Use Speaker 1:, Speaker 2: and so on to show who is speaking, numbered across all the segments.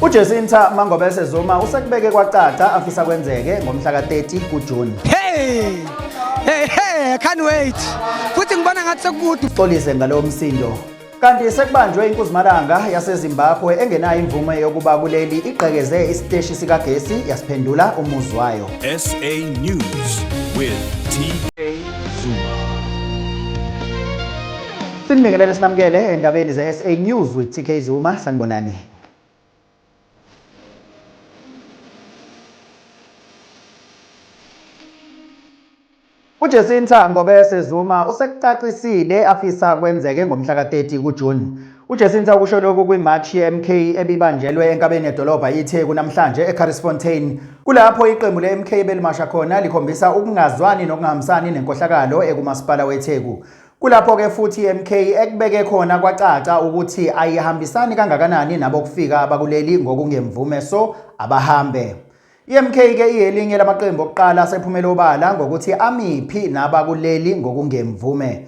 Speaker 1: uJesinta Mangobese Zuma usekubeke kwacaca afisa kwenzeke ngomhla ka-30 kuJuni. Hey!
Speaker 2: Hey, hey, I can't wait. Futhi ngibona ngathi sekukude. Xolise ngalowo msindo.
Speaker 1: Kanti sekubanjwe inkuzimalanga yaseZimbabwe engenayo imvume yokuba kuleli igqekeze isiteshi sikagesi yasiphendula umuzi wayo. SA
Speaker 3: News with TK Zuma.
Speaker 1: Sinibingelele sinamukele endabeni ze-SA News with TK Zuma. Sanibonani. UJacinta Ngobese Zuma usekucacisile afisa kwenzeke ngomhla ka-30 kuJuni. UJacinta ukusho lokhu kwimashi ye-MK ebibanjelwe enkabeni yedolobha iTheku namhlanje eCarrisfontein, kulapho iqembu le-MK belimasha khona likhombisa ukungazwani nokungahambisani nenkohlakalo ekumasipala weTheku. Kulapho ke futhi iMK ekubeke khona kwacaca ukuthi ayihambisani kangakanani nabokufika abakuleli ngokungemvume so abahambe. IMK ke iyelinye lamaqembu okuqala asephumele obala ngokuthi amiphi nabakuleli ngokungemvume.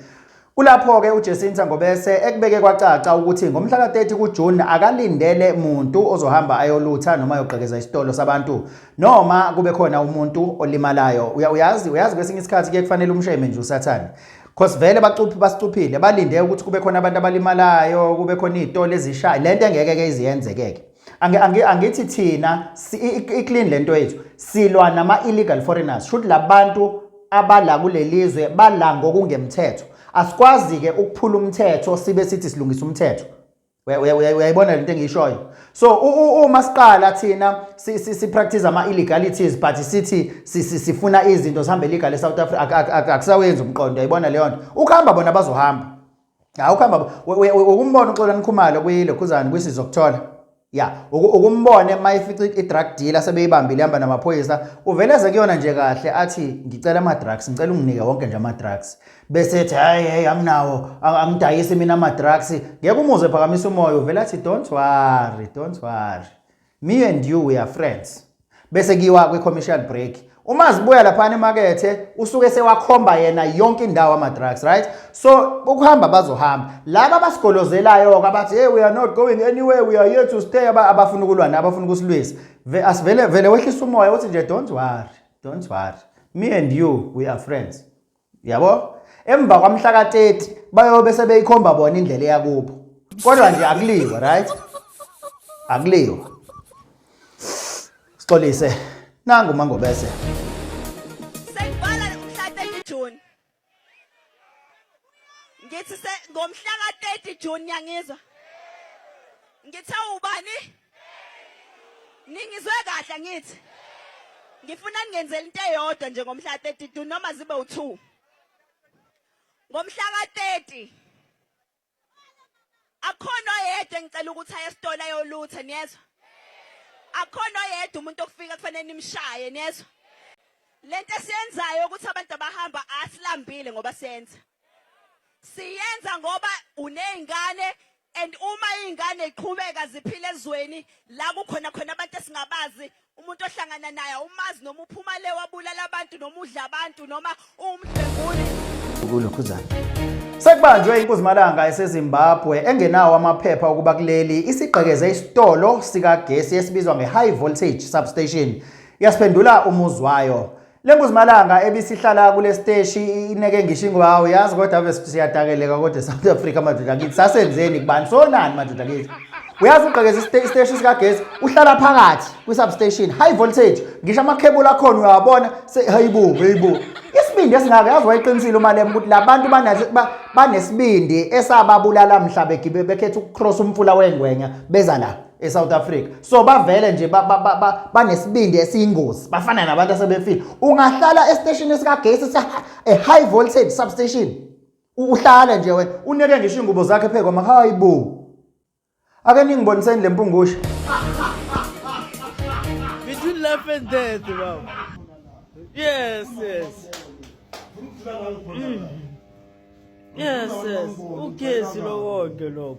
Speaker 1: Kulapho ke uJesinta Ngobese ekubeke kwacaca ukuthi ngomhla ka-30 kuJune akalindele muntu ozohamba ayolutha noma ayogqekeza isitolo sabantu noma kube khona umuntu olimalayo. Uyazi uyazi kwesinye isikhathi ke kufanele umsheme nje usathane. Cause vele bacuphi basicuphile balinde ukuthi kube khona abantu abalimalayo kube khona izitolo ezishaya lento engeke ke iziyenzekeke angithi angi thina iclean lento yethu silwa nama illegal foreigners should labantu abala kulelizwe bala ngokungemthetho asikwazi ke ukuphula umthetho sibe sithi silungisa umthetho uyayibona lento engiyishoyo so uma siqala thina si practice ama illegalities but sithi sifuna izinto sihambe legal e South Africa akusawenzi umqondo uyayibona leyo nto ukuhamba bona bazohamba ha ukuhamba ukumbona uXolani Khumalo kwilokhuzana kwisizwe ukuthola ya ukumbone mayifica i-drug dealer sebeyibambile ihamba namaphoyisa uveleze kuyona nje kahle athi ngicela ama-drugs ngicela unginike wonke nje ama-drugs bese ethi hayi hey anginawo angidayisi mina ama-drugs ngeke umuze phakamisa umoya uvele athi don't worry don't worry me and you we are friends bese kiwa kwi-commercial break uma zibuya laphana emakethe usuke sewakhomba yena yonke indawo ama-drugs right so ukuhamba bazohamba laba abasigolozelayo-ke abathi hey we are not going anywhere we are here to stay abafuna ukulwa nabo abafuna ukusilwisa asivele vele wehlisa umoya uthi nje don't worry don't worry me and you we are friends yabo emva kwamhla ka-30 bayobe sebeyikhomba bona indlela eyakubo kodwa nje akuliwa right akuliwa sixolise nangu mangobese
Speaker 4: ngithi ngomhla ka-30 June yangizwa ngithe ubani Ningizwe kahle ngithi. Ngifuna ningenzele into eyodwa nje ngomhla 32 noma zibe u2. Ngomhla ka30 Akhona oyedwa engicela ukuthi aye esitolo ayolutha niyezwa? Akhona oyedwa umuntu okufika kufanele nimshaye niyezwa? Lento esiyenzayo ukuthi abantu abahamba asilambile ngoba senza. Siyenza ngoba unezingane And uma iyngane yqhubeka ziphila ezweni la kukhona khona abantu esingabazi umuntu ohlangana naye awumazi noma uphuma le wabulala abantu noma udla abantu noma uwumdlwenguli ukulokhuzana
Speaker 1: Sekubanjwe inkosi Malanga eseZimbabwe engenawo amaphepha okuba kuleli isigqekeze isitolo sikagesi esibizwa ngeHigh Voltage Substation. Yasiphendula umuzwayo. Le mbuzimalanga ebisihlala kule siteshi ineke ngisho ingoba hawu yazi kodwa ave siyadakeleka kodwa eSouth Africa madoda kithi sasenzeni kubani sonani madoda kithi uyazi ugqekeza isiteshi sikagesi uhlala phakathi kwi-substation high voltage ngisho amakhebula akhona uyawabona hayibo hayibo isibindi esingaka yazi wayiqinisile umalema ukuthi la bantu banesibindi esababulala mhla bekhetha ukucross umfula wengwenya beza la eSouth Africa so bavele nje banesibindi esiyingozi bafana nabantu asebefile ungahlala esiteshini esikagesi sa a high voltage substation uhlala nje wena uneke ngisho ingubo zakhe phe kwama hayi bo ake ningiboniseni lempungusha
Speaker 5: between life and death baba yes yes mm. yes yes ugesi lokho lokho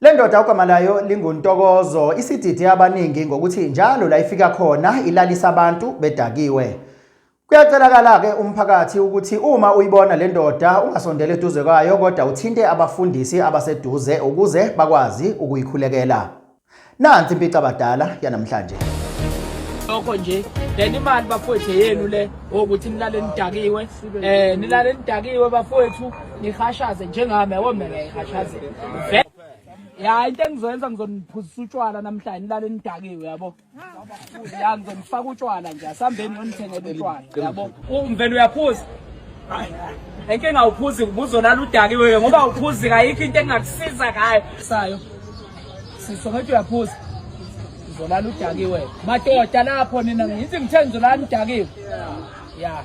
Speaker 1: Le ndoda ugama layo linguNtokozo isidide abaningi ngokuthi njalo la ifika khona ilalisa abantu bedakiwe. Kuyacelakala-ke umphakathi ukuthi uma uyibona le ndoda ungasondela eduze kwayo kodwa uthinte abafundisi abaseduze ukuze bakwazi ukuyikhulekela. Nansi impicabadala yanamhlanje. Lokho
Speaker 6: nje then imali bafowethu yenu le ukuthi nilale nidakiwe eh nilale nidakiwe bafowethu ngihashaze njengami yabo mina ngihashaze ya into engizoyenza ngizoniphuzisa utshwala namhlanje nilale nidakiwe yabo ya ngizonifaka utshwala nje asihambeni nonithengele utshwala yabo umvele uyaphuza enkinga awuphuzi ubuzolala udakiwe ngoba awuphuzi kayikho into engingakusiza ngayo sayo siso ngathi uyaphuza uzolala udakiwe madoda lapho nina ngithi ngithe ngizolala udakiwe ya